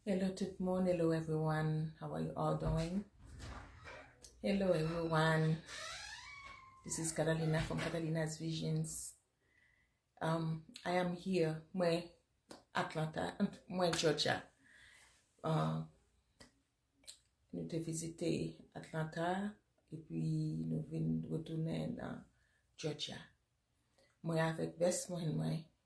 Hello tout moun, hello everyone, how are you all doing? Hello everyone, this is Catalina from Catalina's Visions. Um, I am here, mwen Atlanta, mwen Georgia. Uh, nou te vizite Atlanta epi nou vin retounen nan Georgia. Mwen avèk vès mwen mwen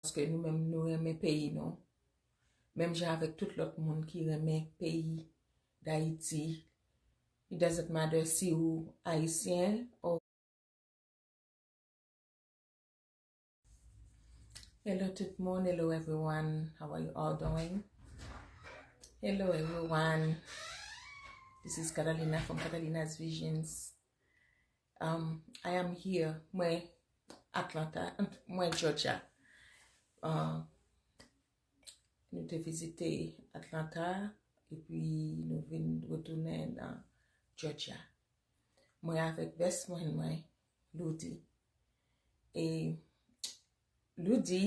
paske nou menm nou renmen peyi nou, menm jan avèk tout lòt moun ki renmen peyi Dayiti, it doesn't matter si ou Ayisyen or Hello tout moun, hello everyone, how are you all doing? Hello everyone, this is Catalina from Catalina's Visions I am here mwen Atlanta mwen Georgia nou te vizite Atlanta epi nou vin retounen nan Georgia mwen avèk best mwen mwen Loudi e Loudi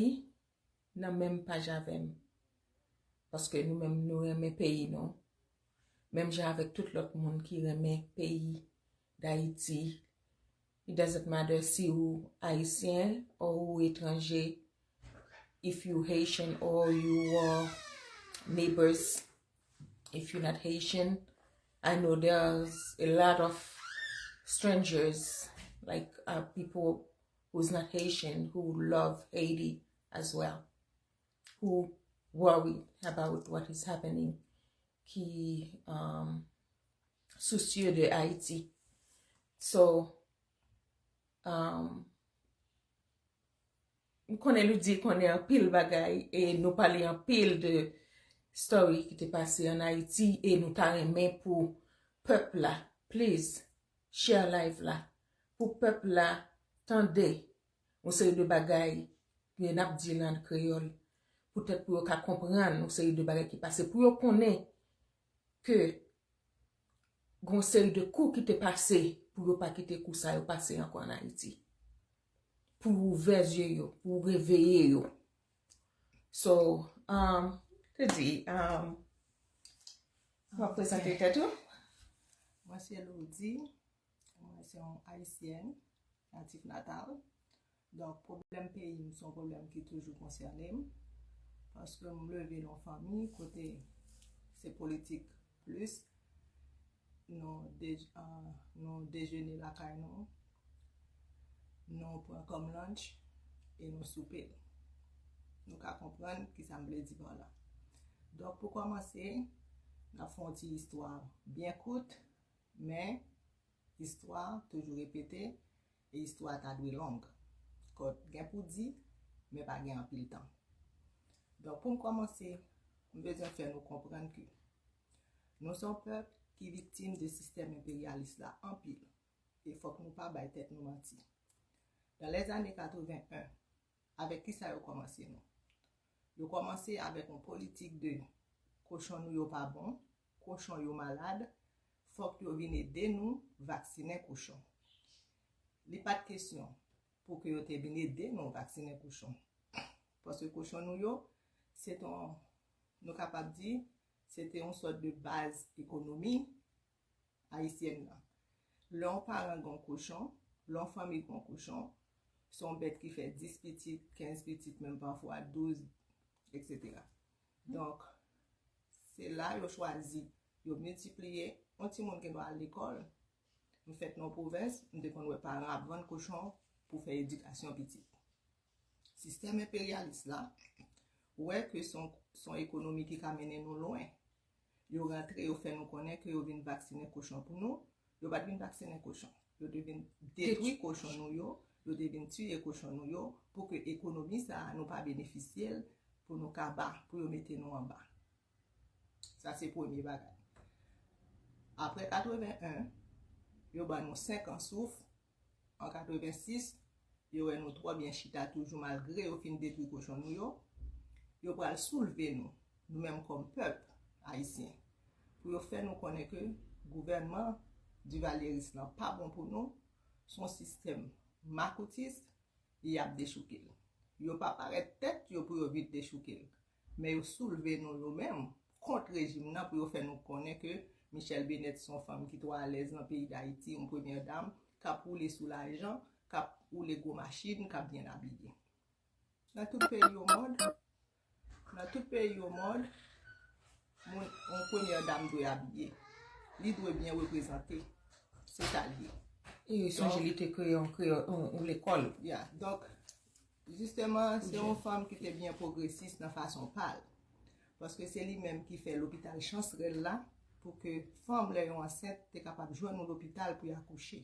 nan menm paj avèm paske nou menm nou renmen peyi nou menm jan avèk tout lòt moun ki renmen peyi dayiti it doesn't matter si ou ayisyen or ou etranje if you haitian or you are neighbors if you not haitian I know there's a lot of strangers like people who is not Haitian who love Haiti as well who worry about what is happening ki um, soucieux de Haiti so um, m konnen nou di konnen an pil bagay e nou pale an pil de story ki te pase an Haiti e nou ta renmen pou pep la please Share live la pou pèp la tande yon seri de bagay ke nap di la an kreyòl poutèt pou yo ka konprann yon seri de bagay ki pase pou yo konnen ke gen yon seri de kou ki te pase pou yo pa kite kou sa yo pase ankò an Ayiti. Pou ouvè zye yo, pou reveye yo. So, um, te di, um, wap prezante tèt ou? Mwen se Lourdy, mwen se yon Ayisyen, natif natal. Donk, pwoblèm peyi m son pwoblèm ki toujou konsène m. Paske m leve nan fanmi kote se politik Plis nou dejene lakay nou, nou pran kòm lunch e nou soupe. Nou ka konprann ki sa m vle di pa la. Donk pou kòmanse, n ap fè yon ti istwa byen kout, men istwa toujou repete E istwa a ta dwe long. Kò gen pou di, men pa gen anpil tan. Donk pou m kòmanse, m bezwen fè nou konprann ke nou se yon pèp ki viktim de sistèm enperyalis la anpil e fòk nou pa bay tèt nou manti. Dans les années 81, Avèk kisa yo kòmanse nou? Yo kòmanse avèk yon politik de kochon nou yo pa bon, kochon yo malad, fòk yo vin ede nou vaksinen kouchon. Li pat kesyon pou ke yo te vin ede nou vaksinen kouchon. Paske kochon nou yo, se te yon, nou kapab di, se te yon sòt de baz ekonomi Ayisyèn nan. Lè yon paran gen yon kochon, lè yon fanmi gen yon kochon, se yon bèt ki fè 10 pitit, 15 pitit, menm pafwa 12, eksetera. Donk, se la yo chwazi, yo miltipliye. Yon timoun gen dwa al lekòl. M fèt nan yon pwovens, m te konn wè paran ap vann kochon pou fè edikasyon pitit. Sistèm enperyalis la wè ke se yon ekonomi ki ka mennen nou lwen. Yo rantre yo fè nou konnen ke yo vin vaksinen kochon pou nou, yo pat vin vaksinen kochon. Yo te vin detwi kochon nou yo, yo te vin tiye kochon nou yo pou ke ekonomi sa a nou pa benefisye l, pou nou kaba, pou yo mete nou anba. Sa se premye bagay. Apre 81, yo ban nou 5 an souf, An 86, yo wè nou twò byen chita toujou malgre yo fin detwi kochon nou yo, yo pral soulve nou, nou menm kòm pèp ayisyen, pou yo fè nou konnen ke gouvènman divalyeris lan pa bon pou nou, s on sistèm makoutis e y ap dechouke l. Yo pa parèt tèt yo pou yo vin dechouke l. Men yo soulve nou nou menm kont rejim nan pou yo fè nou konnen ke Michèle Bennet son fanm ki twò alèz nan peyi Dayiti, yon premyè dam kap woule sou lajan, kap woule gwo machin, kap byen abiye. Nan tout peyi omond, nan tout peyi omond, moun, yon premyè dam dwe abiye. Li dwe byen reprezante. Se sa li ye. E sonje li te kreye yon kreyòl, yon lekòl. Ya, donk. Jisteman, se yon fanm ki te byen pwogresis nan fason pa l. Paske se li menm ki fè lopital Chansrèl la pou ke fanm lè yo ansent te kapab jwenn yon lopital pou y akouche.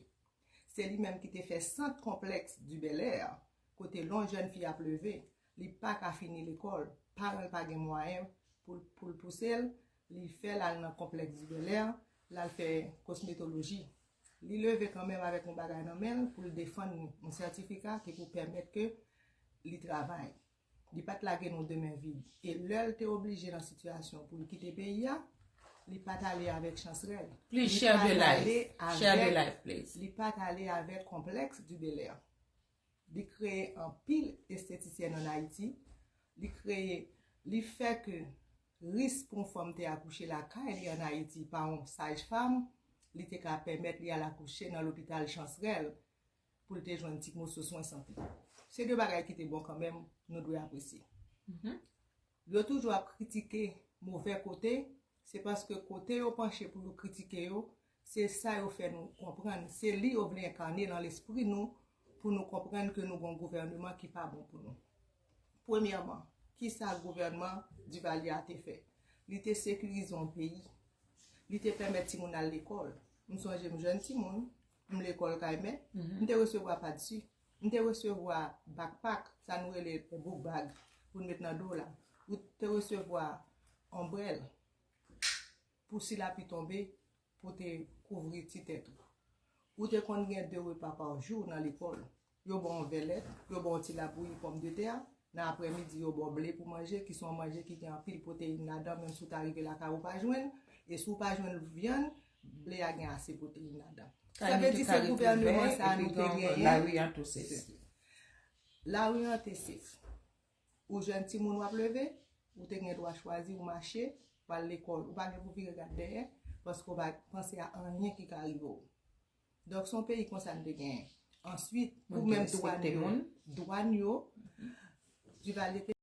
Se li menm ki te fè sant konplèks di Bèlè a, kote lè yon jèn fi ap leve, li pa ka fini lekòl, paran l pa gen mwayen pou l pou l pouse l, li fè l al nan konplèks di Bèlè, l al fè kosmetoloji. Li leve kanmenm avèk yon bagay nan men l pou l defann yon sètifika ki pou pèmèt ke li travay. Li pa t lage nou de men vid. E lè l te oblije nan sitiyasyon pou l kite peyi a, li pa t ale avèk chans rèl. Li pa t ale avèk konplèks di Belè. Li kreye anpil estetisyèn an Ayiti. Li kreye, li fè ke ris pou yon fanm te akouche lakay li an Ayiti pa yon sajfam, li te ka pèmèt li al akouche nan lopital Chansrèl pou l te jwenn ti moso swen sante. Se de bagay ki te bon kanmenm, nou dwe apresye. Yo toujou ap kritike move kote, se paske kote yo panche pou yo kritike yo, Se sa yo fè nou konprann, se li yo vle enkane lan lespri nou pou nou konprann ke nou gon gouvèneman ki pa bon pou nou. Premyèman, ki sa gouvèneman Duvalier a te fè? Li te sekirize yon peyi. Li te pèmèt timoun al lekòl. M sonje m jèn timoun, m lekòl kay mèt, m te resevwa padsi, m te resevwa bakpak, sa nou rele book bag, pou n met nan do w la. Ou te resevwa onbrèl. Pou si lapli tonbe, pou te kouvri ti tèt ou. Ou te konn gen de repa pa jou nan lekòl. Yo ba w yon vè lèt, yo ba w ti labouyi pòmdetè, nan aprèmidi yo ba w ble pou manje ki se yon manje ki gen anpil pwoteyin ladan menm si w ta rive lakay ou pa jwenn l, e si w pa jwenn vyann, ble a gen ase pwoteyin ladan. Sa vle di se gouvèneman sa a nou te genyen. Lari an tou sèf. Lari an te sèf. Ou jèn timoun wap leve, ou te gen dwa chwazi ou mache, ou al lekòl. Ou pa gen pou vire gad dèyè, paske ou pa panse a anyen ki ka rive ou. Donk son peyi konsa n te genyen. Answit, pou menm dwàn yo, dwàn yo, Duvalier te.